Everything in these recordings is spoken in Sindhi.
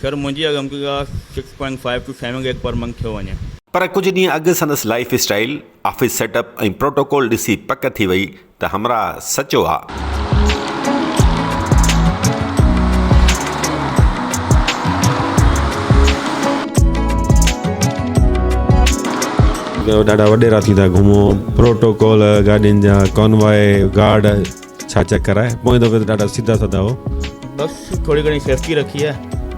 سر منهنجي اڳ امڪيگا six point five two seven gig per month ٿيو وڃي. پر ڪجهه ڏينهن اڳ سندس lifestyle, office setup ۽ protocol ڏسي پڪ ٿي وئي ته همراهه سچو آ. ڏاڍا وڏيرا ٿيندا گهمو، پروٽوڪول، گاڏين جا ڪانواء، گارڊ. ڇا چڪر آهي پوئين دفعي ته ڏاڍا سيڌا سادا هئو. بس ٿوري گهڻي سيفٽي رکي آهي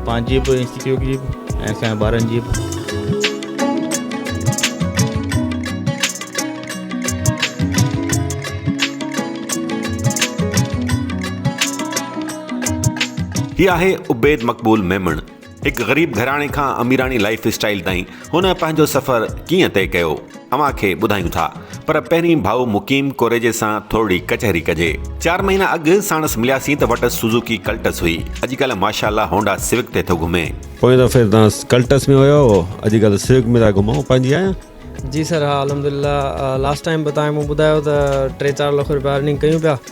پنهنجي به انسٽيٽيوٽ جي به ۽ اسان جي ٻارن جي به. هي آهي عبيد مقبول ميمڻ. هڪ غريب گهراڻي کان اميراڻي لائيف اسٽائيل تائين هن پنهنجو سفر ڪيئن طئي ڪيو اوهان کي ٻڌايون ٿا پر پهرين ڀائو مقيم ڪوريجي سان ٿورڙي ڪچهري ڪجي چار مهينا اڳ ساڻس ملياسين ته وٽس سوزوڪي ڪلٽس هئي اڄڪلهه ماشاالله هونڊا سوڪ تي ٿو گهمي پوئين دفعي تان ڪلٽس ۾ هيا هئو اڄڪلهه سوڪ ۾ ٿا گهمو پنهنجي آهي جي سر ها الحمدلله لاسٽ ٽائيم به تان مون ٻڌايو ته ٽي چار لک روپيا ارننگ ڪيون پيا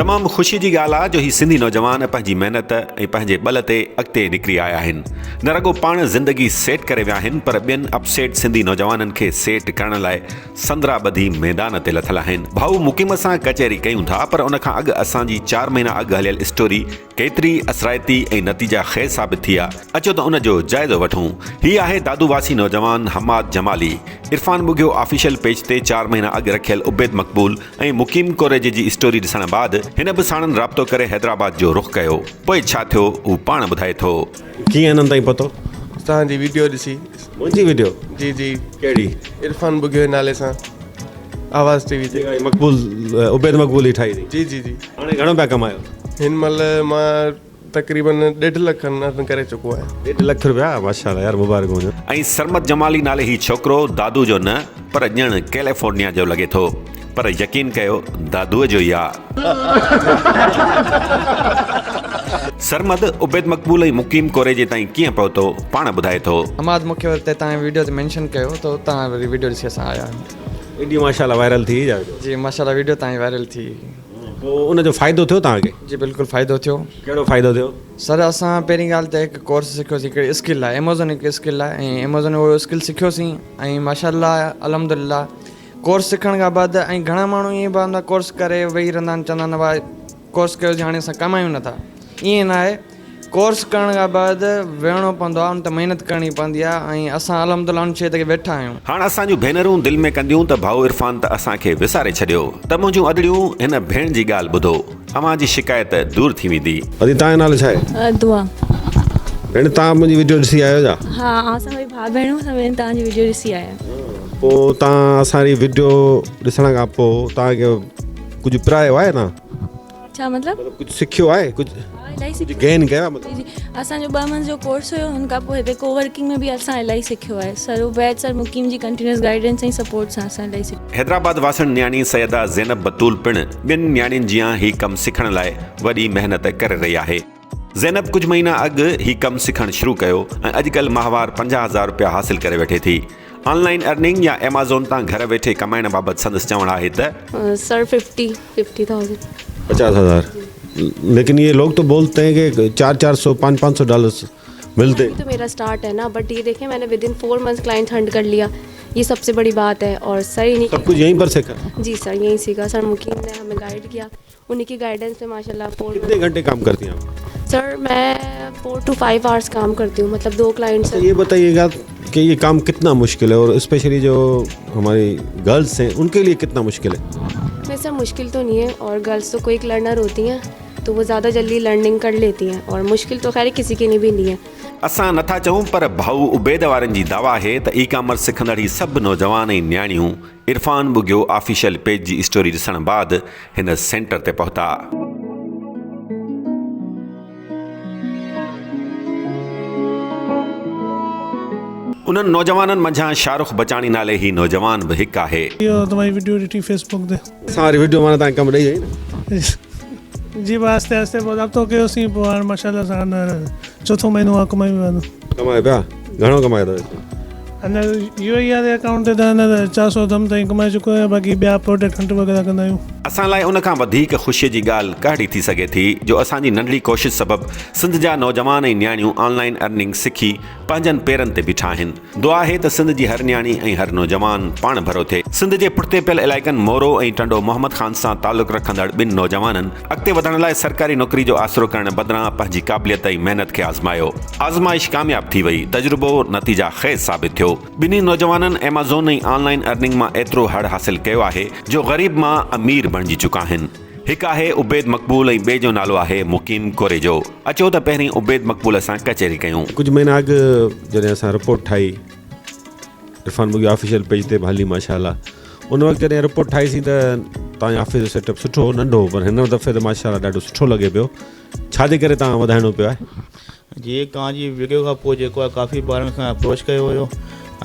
تمام خوشي جي ڳالهه آ جو هي سنڌي نوجوان پنهنجي محنت ۽ پنهنجي ٻل تي اڳتي نڪري آيا آهن نه رڳو پاڻ زندگي سيٽ ڪري ويا آهن پر ٻين اپ سيٽ سنڌي نوجوانن کي سيٽ ڪرڻ لاء سندرا ٻڌي ميدان تي لٿل آهن ڀائو مقيم سان ڪچهري ڪيون ٿا پر ان کان اڳ اسان جي چار مهينا اڳ هليل اسٽوري ڪيتري اثرائتي ۽ نتيجا خيز ثابت ٿي آ، اچو ته ان جو جائزو وٺون. هي آهي دادو واسي نوجوان حماد جمالي. عرفان ٻگهيو آفيشل پيج تي چار مهينا اڳ رکيل عبيد مقبول ۽ مقيم ڪوريجي جي اسٽوري ڏسڻ بعد هن به ساڻن رابطو ڪري حيدرآباد جو رخ ڪيو. پوء ڇا ٿيو هو پاڻ ٻڌائي ٿو. ڪيئن انهن تائين پهتو؟ توهان جي ويڊيو ڏسي. منهنجي ويڊيو؟ جي جي. ڪهڙي؟ عرفان ٻگهيو جي نالي سان. آواز ٽي وي تي مقبول عبيد مقبول ئي ٺاهي جي جي جي هاڻي گهڻو پيا ڪمايو هن مهل مان تقريبن ڏيڍ لک کن ارن ڪري چڪو آهيان ڏيڍ لک رپيا ماشاءالله يار مبارڪ هجن ۽ سرمد جمالي نالي هي ڇوڪرو دادو جو نه پر ڄڻ ڪيليفورنيا جو لڳي ٿو پر يقين ڪيو دادوء جو ئي آ. سرمد عبيد مقبول ۽ مقيم ڪوريجي تائين ڪيئن پهتو پاڻ ٻڌائي ٿو. حماد مونکي وري تي تانجي ويڊيو تي مينشن ڪيو ته اتان وري ويڊيو ڏسي اسان آيا آهيون. ايڏي ماشاء الله وائرل ٿي جا ويڊيو. جي ماشاء الله ويڊيو تان وائرل ٿي. پوء ان جو فائدو ٿيو توهان کي؟ جي بلڪل فائدو ٿيو. ڪهڙو فائدو ٿيو؟ سر اسان پهرين ڳالهه ته هڪ ڪورس سکيوسين هڪڙي اسڪل لاء ايمازون هڪ اسڪل لاء ۽ ايمازون اهو اسڪل سکيوسين ۽ ماشاء الله الحمد لله ڪورس سکڻ کان بعد ۽ گهڻا ماڻهو ائين به هوندا ڪورس ڪري ويهي رهندا آهن چوندا آهن واء ڪورس ڪيو جهاڻي اسان ڪمايون نه ٿا ائين نه آهي ڪورس ڪرڻ کان بعد ويهڻو پوندو آهي ان تي محنت ڪرڻي پوندي آهي ۽ اسان الحمد الله ان شيء تي ويٺا آهيون. هاڻ اسان جون ڀينرون دل ۾ ڪنديون ته ڀائو عرفان ته اسان کي وساري ڇڏيو ته منهنجون ادڙيون هن ڀيڻ جي ڳالهه ٻڌو اوهان جي شڪايت دور ٿي ويندي. ادي تان جو نالو ڇا آهي. دعا. ڀيڻ تان منهنجي وڊيو ڏسي آيو ڇا. ها آئون سان گڏ ڀاء ڀيڻون اسان ٻنهي تان جي وڊيو ڏسي آيا. پو تان اسان ري وڊيو ڏسڻ کان پو تان کي. ڪجهه پرايو آهي نه ڇا مطلب ڪجهه سکيو آهي ڪجهه گين ڪيا مطلب اسان جو ٻه منٿ جو ڪورس هيو ان کان پوء هتي ڪو ورڪنگ ۾ به اسان الائي سکيو آهي سر عبيد سر مقيم جي ڪنٽينيوس گائيڊنس ۽ سپورٽ سان اسان الائي سکيو حيدرآباد واسن نياڻي سيده زينب بتول پڻ ٻين نياڻين جيان هي ڪم سکڻ لاء وڏي محنت ڪري رهي آهي زينب ڪجهه مهينا اڳ هي ڪم سکڻ شروع ڪيو ۽ اڄڪلهه ماهوار پنجاهه هزار رپيا حاصل ڪري ويٺي ٿي. آن لائن ارننگ يا ايمازون تان گهر ويٺي ڪمائڻ بابت سندس چوڻ آهي ته. Sir fifty fifty thousand. پچاس هزار ليڪن اهي لوگ تو بولت هين ڪي چار چار سو پانچ پانچ سو ڊالرس ملتي هين. تو ميرا اسٽارٽ هي نا بٽ يي ديکي مين within four months client hunt ڪر ليا يي سب سي بڙي بات هي اور سر انهي سب ڪجهه يهين پر سيکا. جي سر يهين سيکا سر مونکي انهن همي گائيڊ ڪيا. انهي کي گائيڊنس ۾ ماشاء الله فور ڪتني گهنٽي ڪام ڪرتي هو سر مين فور ٽو فائيو آورس ڪام ڪرتي هون مطلب دو ڪلائنٽ سر اهي بتائي گا ڪي هي ڪام ڪتنا مشڪل هي اور اسپيشلي جو هماري گرلس هي ان کي لي ڪتنا مشڪل هي سر مشڪل تو نهي هي اور گرلس تو ڪوئي لرنر هوتي هي تو هو زياده جلدي لرننگ ڪر ليتي هي اور مشڪل تو خير ڪسي کي نهي بي ايندي هي اسان نٿا چئون پر ڀائو عبيد وارن جي دعويٰ آهي ته اي ڪامرس سکندڙ هي سڀ نوجوان ۽ نياڻيون عرفان ٻگهيو آفيشل پيج جي اسٽوري ڏسڻ بعد هن سينٽر تي پهتا. انهن نوجوانن منجهان شاهه رخ بچاڻي نالي هي نوجوان به هڪ آهي. سان واري وڊيو مان تانکي ڪم ڏئي وئي نه. جي پوء آهستي آهستي پوء رابطو ڪيوسين پوء هاڻ ماشاءالله سان هينئر چوٿون مهينو آهي ڪمايون پيا ٿو. ڪمايو پيا گهڻو ڪمايو ٿا اچو. هينئر يو اي واري اڪائونٽ تي ته هينئر چار سؤ ڌم تائين ڪمائي چڪو آهيان باقي ٻيا پروڊڪٽ هنٽ وغيره ڪندا آهيون. اسان لاء ان کان وڌيڪ خوشيء جي ڳالهه ڪهڙي ٿي سگهي ٿي جو اسان جي ننڍڙي ڪوشش سبب سنڌ جا نوجوان ۽ نياڻيون آن لائين ارننگ سکي پنهنجن پيرن تي بيٺا آهن دعا آهي ته سنڌ جي هر نياڻي ۽ هر نوجوان پاڻ ڀرو ٿئي. سنڌ جي پٺتي پيل علائقن مورو ۽ ٽنڊو محمد خان سان تعلق رکندڙ ٻن نوجوانن اڳتي وڌڻ لاء سرڪاري نوڪري جو آسرو ڪرڻ بدران پنهنجي قابليت ۽ محنت کي آزمايو. آزمائش ڪامياب ٿي وئي. تجربو نتيجا خيز ثابت ٿيو. ٻنهي نوجوانن ايمازون ۽ آن لائن ارننگ مان ايترو هڙ حاصل ڪيو آهي جو غريب مان امير بڻجي چڪا آهن. هڪ آهي عبيد مقبول ۽ ٻئي جو نالو آهي مقيم ڪوريجو. اچو ته پهرين عبيد مقبول سان ڪچهري ڪيون. ڪجهه مهينا اڳ جڏهن اسان رپورٽ ٺاهي عرفان بگيو آفيشل پيج تي به هلي ماشاء الله ان وقت جڏهن رپورٽ ٺاهي سين ته توهان جو آفيس جو سيٽ اپ سٺو هو ننڍو هو پر هن دفعي ته ماشاء الله ڏاڍو سٺو لڳي پيو ڇا جي ڪري توهان وڌائڻو پيو آهي؟ جي ڪان جي ويڊيو کان پوء جيڪو آهي ڪافي ٻارن کان اپروچ ڪيو هيو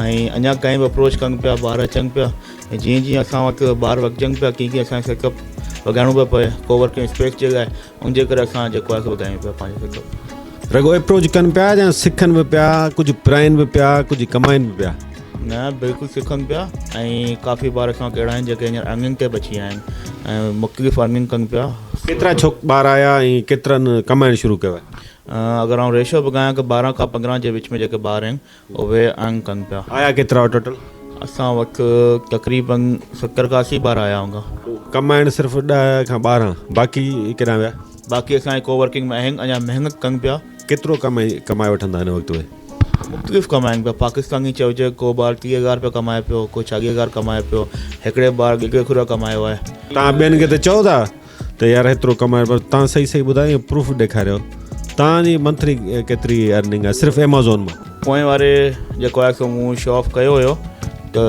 ۽ اڃا تائين به اپروچ ڪن پيا ٻار اچن پيا ۽ جيئن جيئن اسان وٽ ٻار وڪجن پيا ڪيئن ڪيئن اسان کي سيٽ اپ وڌائڻو پيو پوي ڪو ورڪنگ اسپيس جي لاء ان جي ڪري اسان جيڪو آهي سو وڌايون پيا پنهنجو سيٽ اپ رڳو اپروچ ڪن پيا يا سکن به پيا ڪجهه پرائن به پيا ڪجهه ڪمائن به پيا؟ نه بلڪل سکن پيا ۽ ڪافي ٻار اسان وٽ اهڙا آهن جيڪي هينئر ارننگ تي به اچي ويا آهن ۽ مختلف ارننگ ڪن پيا ڪيترا ڇوڪ ٻار آيا ۽ ڪيترن ڪمائڻ شروع ڪيو آهي؟ اگر آئون ريشو به ڳايان ڪه ٻارهن کان پندرهن جي وچ ۾ جيڪي ٻار آهن اهي انگ ڪن پيا. آيا ڪيترا هئا ٽوٽل؟ اسان وٽ تقريباً ستر کان اسي ٻار آيا هوندا. ڪمائڻ صرف ڏهه کان ٻارهن باقي ڪيڏانهن ويا؟ باقي اسان جي ڪو ورڪنگ ۾ آهن اڃا محنت ڪن پيا. ڪيترو ڪمائي ڪمائي وٺندا هن وقت اهي؟ مختلف ڪمائن پيا پاڪستان ائين چئجي ڪو ٻار ٽيهه هزار رپيا ڪمائي پيو ڪو چاليهه هزار ڪمائي پيو هڪڙي ٻار ڳگهي کوريا ڪمايو آهي. توهان ٻين کي ته چئو ٿا ته يار هيترو ڪمائي پر تان صحيح صحيح ٻڌايو ۽ پروف ڏيکاريو تان جي منٿلي ڪيتري ارننگ آهي صرف ايمازون مان پوئين واري جيڪو آهي سو مون شو آف ڪيو هيو ته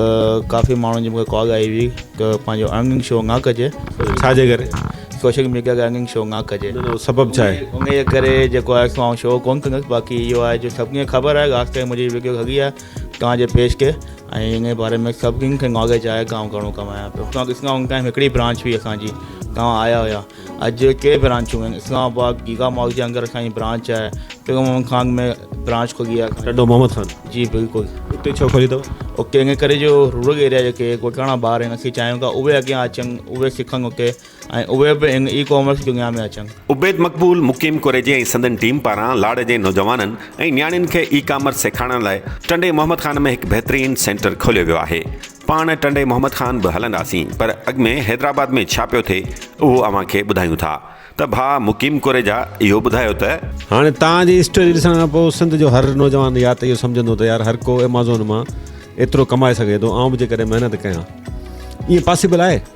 ڪافي ماڻهن جي مون کي ڪال آئي هئي ته پنهنجو ارننگ شو نه ڪجي ڇا جي ڪري سوشل ميڊيا تي ارننگ شو نه ڪجي سبب ڇا آهي ان جي ڪري جيڪو آهي سو آئون شو ڪون ڪندس باقي اهو آهي جو سڀني کي خبر آهي خاص ڪري منهنجي وڊيو هڳي آهي توهان جي پيج کي ۽ ان باري ۾ سڀني کي ناليج آهي گائون گهڻو ڪمايان پيو توهان اسلام آباد ۾ هڪڙي برانچ هئي اسان جي توهان آيا هيا اڄ ڪئي برانچون آهن اسلام آباد گيگا مال جي اندر اسان جي برانچ آهي ٽيون محمد خان ۾ برانچ کلي آهي ٽنڊو محمد خان جي بلڪل اتي ڇو کلي اٿو اتي ان ڪري جو رورل ايريا جيڪي ڳوٺاڻا ٻار آهن اسين چاهيون ٿا اهي اڳيان اچن اهي سکن اتي ۽ اهي به ان اي ڪامرس دنيا ۾ اچن. عبيد مقبول مقيم ڪوريجي ۽ سندن ٽيم پاران لاڙ جي نوجوانن ۽ نياڻين کي اي ڪامرس سيکارڻ لاء ٽنڊي محمد خان ۾ هڪ بهترين سينٽر کوليو ويو آهي. پاڻ ٽنڊي محمد خان به هلنداسين پر اڳ ۾ حيدرآباد ۾ ڇا پيو ٿئي اهو اوهان کي ٻڌايون ٿا ته ڀاء مقيم ڪوريجا اهو ٻڌايو ته. هاڻي توهان جي اسٽوري ڏسڻ کان پوء سنڌ جو هر نوجوان يا ته اهو سمجهندو ته يار هر ڪو ايمازون مان ايترو ڪمائي سگهي ٿو آئون به جيڪڏهن محنت ڪيان ائين پاسيبل آهي؟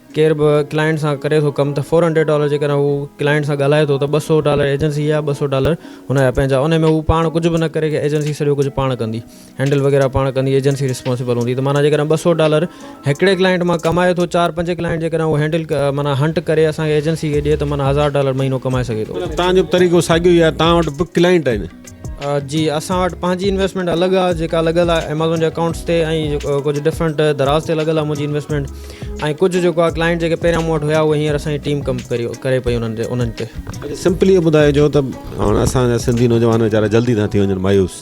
ڪير به ڪلائنٽ سان ڪري ٿو ڪم ته فور هنڊريڊ ڊالر جيڪڏهن هو ڪلائنٽ سان ڳالهائي ٿو ته ٻه سؤ ڊالر ايجنسي جا ٻه سؤ ڊالر هن جا پنهنجا ان ۾ هو پاڻ ڪجهه به نه ڪري ايجنسي سڄو ڪجهه پاڻ ڪندي هينڊل وغيره پاڻ ڪندي ايجنسي ريسپانسبل هوندي ته معنيٰ جيڪڏهن ٻه سؤ ڊالر هڪڙي ڪلائنٽ مان ڪمائي ٿو چار پنج ڪلائنٽ جيڪڏهن هو هينڊل معنيٰ هنٽ ڪري اسان کي ايجنسي کي ڏئي ته معنيٰ هزار ڊالر مهينو ڪمائي سگهي ٿو. معنيٰ توهان جو به طريقو ساڳيو ئي آهي توهان وٽ به ڪلائنٽ آهن. جي اسان وٽ پنهنجي انويسٽمينٽ الڳ آ جيڪا لڳل آ ايمازون جي اڪائونٽس تي ۽ ڪجهه ڊفرنٽ دراز تي لڳل آ منهنجي انويسٽمينٽ ۽ ڪجهه جيڪو آ ڪلائنٽ جيڪي پهريان مون وٽ هيا اهي هينئر اسان جي ٽيم ڪم ڪري پئي انهن تي انهن تي. سمپلي اهو ٻڌائجو ته هاڻ اسان جا سنڌي نوجوان ويچارا جلدي ٿا ٿي وڃن مايوس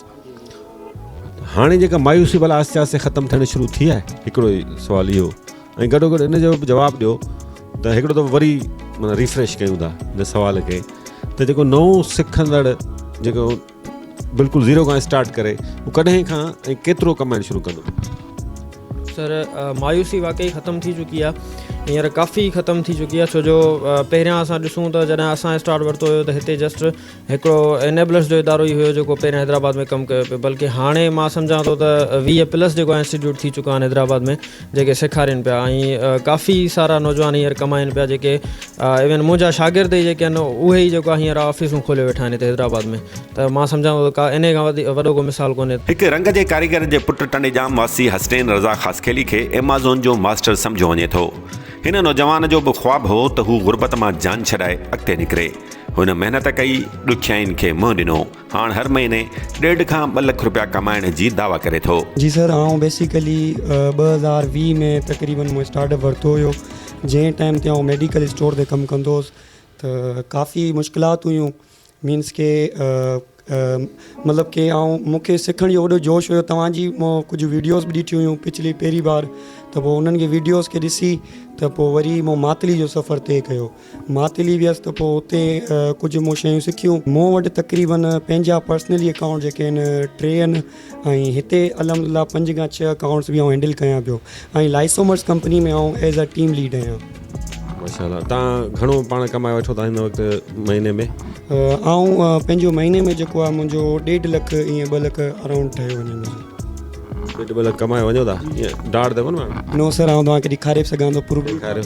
هاڻي جيڪا مايوسي بلا آهستي آهستي ختم ٿيڻ شروع ٿي آهي هڪڙو ئي سوال اهو ۽ گڏو گڏ ان جو به جواب ڏيو ته هڪڙو دفعو وري معنيٰ ريفريش ڪيون ٿا ان سوال کي ته جيڪو نئون سکندڙ جيڪو بلڪل زيرو کان اسٽارٽ ڪري هو ڪڏهن کان ۽ ڪيترو ڪمائڻ شروع ڪندو سر مايوسي واقعي ختم ٿي چڪي آ هينئر ڪافي ختم ٿي چڪي آ ڇو جو پهريان اسان ڏسون ته جڏهن اسان اسٽارٽ ورتو هيو ته هتي جسٽ هڪڙو انيبلرز جو ادارو ئي هيو جيڪو پهرين حيدرآباد ۾ ڪم ڪيو پيو بلڪه هاڻي مان سمجهان ٿو ته ويهه پلس جيڪو انسٽيٽيوٽ ٿي چڪا آهن حيدرآباد ۾ جيڪي سيکارين پيا ۽ ڪافي سارا نوجوان هينئر ڪمائن پيا جيڪي ايون منهنجا شاگرد ئي جيڪي آهن اهي ئي جيڪو هينئر آفيسون کولي ويٺا آهن هتي حيدرآباد ۾ ته مان سمجهان ٿو ته ڪا انهي کان وڏو ڪو مثال ڪونهي هڪ رنگ جي ڪاريگر جي پٽ ٽنڊيڄام واسي حسنين رضا خاصخيلي کي ايمازون جو ماسٽر سمجهيو وڃي ٿو هن نوجوان جو به خواب هو ته هو غربت مان جان ڇڏائي اڳتي نڪري هن محنت ڪئي، ڏکيائين کي منهن ڏنو، هاڻ هر مهيني ڏيڍ کان ٻه لک رپيا ڪمائڻ جي دعويٰ ڪري ٿو. جي سر آئون بيسيڪلي ٻه هزار ويهه ۾ تقريبن مون اسٽارٽ اپ ورتو هيو جنهن ٽائيم تي آئون ميڊيڪل اسٽور تي ڪم ڪندو هوس ته ڪافي مشڪلات هيون مينس ڪي مطلب ڪي آئون مون کي سکڻ جو وڏو جوش هيو توهان جي مون ڪجهه ويڊيوز به ڏٺيون هيون پچھلي پهرين بار ته پوء انهن کي ويڊيوز کي ڏسي ته پوء وري مون ماتلي جو سفر طئي ڪيو ماتلي ويس ته پوء اتي ڪجهه مون شيون سکيون مون وٽ تقريبن پنهنجا پرسنلي اڪائونٽ جيڪي آهن ٽي آهن ۽ هتي الحمد لله پنج کان ڇهه اڪائونٽس به آئون هينڊل ڪيان پيو ۽ لائسومرس ڪمپني ۾ آئون ايز ا ٽيم ليڊ آهيان. ماشاء الله تان گهڻو پاڻ ڪمائي وٺو ٿا هن وقت مهيني ۾. آئون پنهنجو مهيني ۾ جيڪو آهي منهنجو ڏيڍ لک ائين ٻه لک اراونڊ ٺهيو وڃي منهنجو. ڏيڍ ٻه لک ڪمائي وڃو ٿا ائين ڊاڙ ته ڪونه ماڻهو. نو سر آئون توهان کي ڏيکاري به سگهان ٿو پروف. ڏيکاريو.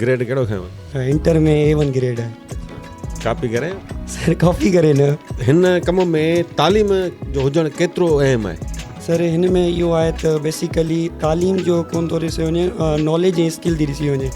گريڊ ڪهڙو کنيو؟ Sir inter ۾ A one grade آهي. ڪاپي ڪري؟ سر ڪاپي ڪري نه. هن ڪم ۾ تعليم جو هجڻ ڪيترو اهم آهي؟ سر هن ۾ اهو آهي ته بيسيڪلي تعليم جو ڪون ٿو ڏسيو وڃي ناليج ۽ اسڪل ٿي ڏسي وڃي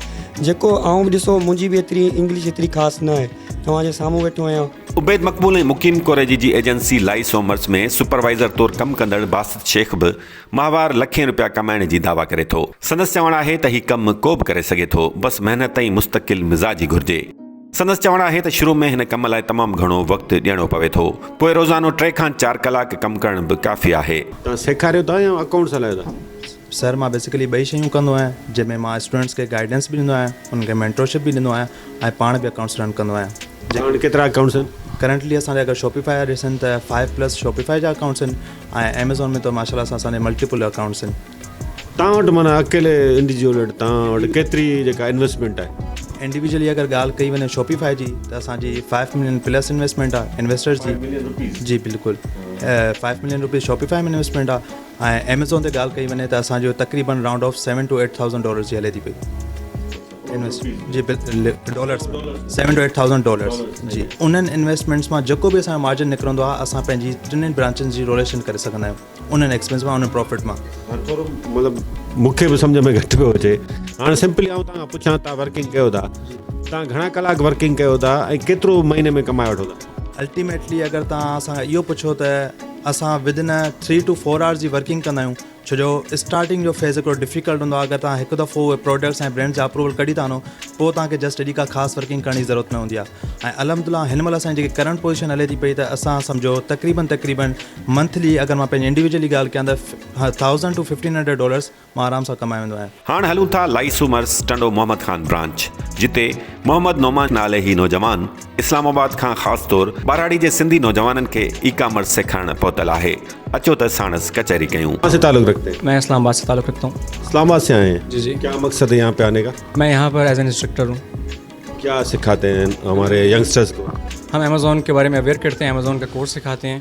جيڪو آئون به ڏسو منهنجي به ايتري انگلش ايتري خاص نه آهي توهان جي سامهون ويٺو آهيان. عبيد مقبول ۽ مقيم ڪوريجي جي ايجنسي لائي سومرس ۾ سپروائيزر طور ڪم ڪندڙ باسط شيخ به ماهوار لکين روپيا ڪمائڻ جي دعويٰ ڪري ٿو. سندس چوڻ آهي ته هي ڪم ڪو به ڪري سگهي ٿو، بس محنت ۽ مستقل مزاجي گهرجي. سندس چوڻ آهي ته شروع ۾ هن ڪم لاء تمام گهڻو وقت ڏيڻو پوي ٿو، پوء روزانو ٽي کان چار ڪلاڪ ڪم ڪرڻ به ڪافي آهي. توهان سيکاريو ٿا يا اڪائونٽس هلايو ٿا؟ سر مان بيسيڪلي ٻئي شيون ڪندو آهيان جنهن ۾ مان اسٽوڊنٽس کي گائيڊنس به ڏيندو آهيان انهن کي مينٽرشپ به ڏيندو آهيان. ۽ پاڻ به اڪائونٽس رن ڪندو آهيان جيڪي ڪيترا اڪائونٽس آهن ڪرنٽلي اسان جا اگر شوپيفائي جا ڏسن ته فائيو پلس شوپيفائي جا اڪائونٽس آهن ۽ ايميزون ۾ ته ماشاءالله سان اسان جا ملٽيپل اڪائونٽس آهن. تان وٽ معنيٰ اڪيلي انڊيجول وٽ تان وٽ ڪيتري جيڪا انويسٽمينٽ آهي. انڊيويجولي اگر ڳالهه ڪئي وڃي شوپيفائي جي ته اسان جي فائيو ملين پلس انويسٽمينٽ آهي انويسٽرس جي جي بلڪل five million rupees Shopify ۾ investment آهي ۽ ايميزون تي ڳالهه ڪئي وڃي ته اسان جو تقريبن round off seven two eight thousand dollars جي هلي ٿي پئي. جي dollars seven two eight thousand dollars جي انهن انويسٽمينٽس مان جيڪو به اسان مارجن نڪرندو آهي اسان پنهنجي ٽنهن برانچن جي روليشن ڪري سگهندا آهيون انهن ايڪسپينس مان انهن پروفٽ مان مطلب مونکي به سمجهه ۾ گهٽ پيو اچي هاڻ سمپلي آئون توهان کان پڇان توهان ورڪنگ ڪيو ٿا توهان گهڻا ڪلاڪ ورڪنگ ڪيو ٿا ۽ ڪيترو مهيني ۾ ڪمائي وٺو ٿا الٽيميٽلي اگر توهان اسان کان اهو پڇو ته اسان within three to four hours جي ورڪنگ ڪندا آهيون ڇو جو اسٽارٽنگ جو فيز هڪڙو ڊفيڪلٽ هوندو آهي اگر توهان هڪ دفعو اهي پروڊڪٽس ۽ برينڊز جا اپروول ڪڍي ٿا وڃو پوء توهان کي جسٽ ايڏي ڪا خاص ورڪنگ ڪرڻ جي ضرورت نه هوندي آهي ۽ الحمد الله هن مهل اسان جي جيڪي ڪرنٽ پوزيشن هلي ٿي پئي ته اسان سمجهو تقريبن تقريبن منٿلي اگر مان پنهنجي انڊيويجولي ڳالهه ڪيان ته thousand to fifteen hundred dollars مان آرام سان ڪمائي ويندو آهيان هاڻ هلون ٿا لائي سومرس ٽنڊو محمد خان برانچ جتي محمد نعمان نالي هي نوجوان اسلام آباد کان خاص طور ٻهراڙي جي سنڌي نوجوانن کي اي ڪامرس سيکارڻ پهتل آهي اچو ته ساڻس ڪچهري ڪيون. کان سي تعلق رکتي هين؟ مين اسلام آباد سي تعلق رکتا هون. اسلام آباد سي آئي هين؟ جي جي. ڪيا مقصد هي يهان پي آني ڪا؟ مين يهان پر ايز اين انسٽرڪٽر هون. ڪيا سکاتي هين هماري ينگسٽرس ڪو؟ هم ايمازون ڪي باري مين اويئر ڪرتي هين ايمازون ڪا ڪورس سکاتي هين.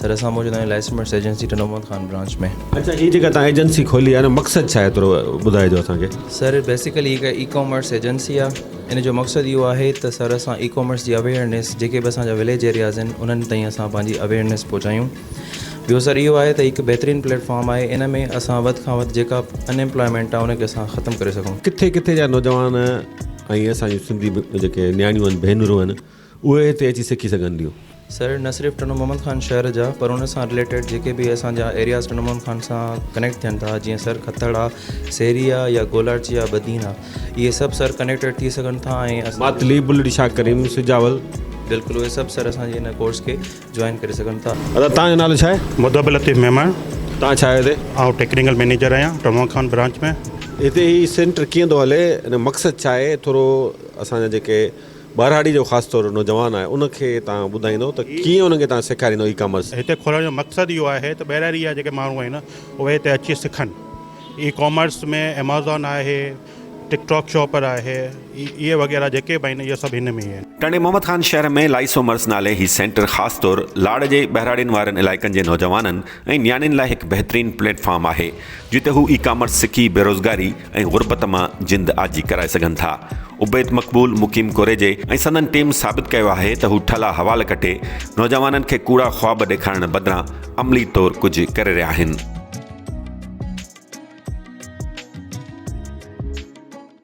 سر اسان موجود آهيون licence mates agency Tando Muhammad Khan branch ۾ اچا هي جيڪا تان ايجنسي کولي آهي مقصد ڇا ايترو ٻڌاء جو اسان کي سر بيسيڪلي هي اي ڪامرس ايجنسي آهي ان جو مقصد اهو آهي ته سر اسان اي ڪامرس جي اويرنيس جيڪي به اسان جا وليج ايرياز آهن انهن تائين اسان پنهنجي اويرنيس پهچايون ٻيو سر اهو آهي ته هڪ بهترين پليٽ فارم آهي ان ۾ اسان وڌ کان وڌ جيڪا ان ايمپلائمينٽ آهي ان کي اسان ختم ڪري سگهون ڪٿي ڪٿي جا نوجوان ۽ اسان جون سنڌي جيڪي نياڻيون آهن ڀينرون آهن اهي هتي اچي سکي سگهنديون. سر نه صرف ٽنڊو محمد خان شهر جا پر ان سان رليٽيڊ جيڪي به اسان جا ايرياز ٽنڊو محمد خان سان ڪنيڪٽ ٿين ٿا جيئن سر کٿڙ آ سيري آ يا گولاڙچي آ بدين آ اهي سڀ سر ڪنيڪٽيڊ ٿي سگهن ٿا ۽ اسان ماتلي بلڙي شاهه ڪريم سجاول. بلڪل اهي سڀ سر اسان جي ان ڪورس کي جوائن ڪري سگهن ٿا. ادا توهان جو نالو ڇا آهي؟ مدب لطيف ميمڻ. توهان ڇا آهيو هتي؟ آئون ٽيڪنيڪل مينيجر آهيان ٽنڊو محمد خان برانچ ۾. هتي هي سينٽر ڪيئن ٿو هلي ان جو مقصد ڇا آهي ٿورو اسان جا جيڪي. ٻهراڙي جو خاص طور نوجوان آهي ان کي تان ٻڌائيندو ته ڪيئن انهن کي تان سيکاريندو اي ڪامرس. هتي کولڻ جو مقصد اهو آهي ته ٻهراڙي جا جيڪي ماڻهو آهن اهي هتي اچي سکن اي ڪامرس ۾ ايمازون آهي ٽڪ ٽاڪ شاپر آهي اهي وغيره جيڪي به آهن اهي سڀ هن ۾ ئي آهن. ٽنڊي محمد خان شهر ۾ لائيسومرس نالي هي سينٽر خاص طور لاڙ جي ٻهراڙين وارن علائقن جي نوجوانن ۽ نياڻين لاء هڪ بهترين پليٽ فارم آهي جتي هو اي ڪامرس سکي بيروزگاري ۽ غربت مان جند آجي ڪرائي سگهن ٿا. عبيد مقبول، مقيم ڪوريجي ۽ سندن ٽيم ثابت ڪيو آهي ته هو ٺلا حوال ڪٽي نوجوانن کي ڪوڙا خواب ڏيکارڻ بدران عملي طور ڪجهه ڪري رهيا آهن.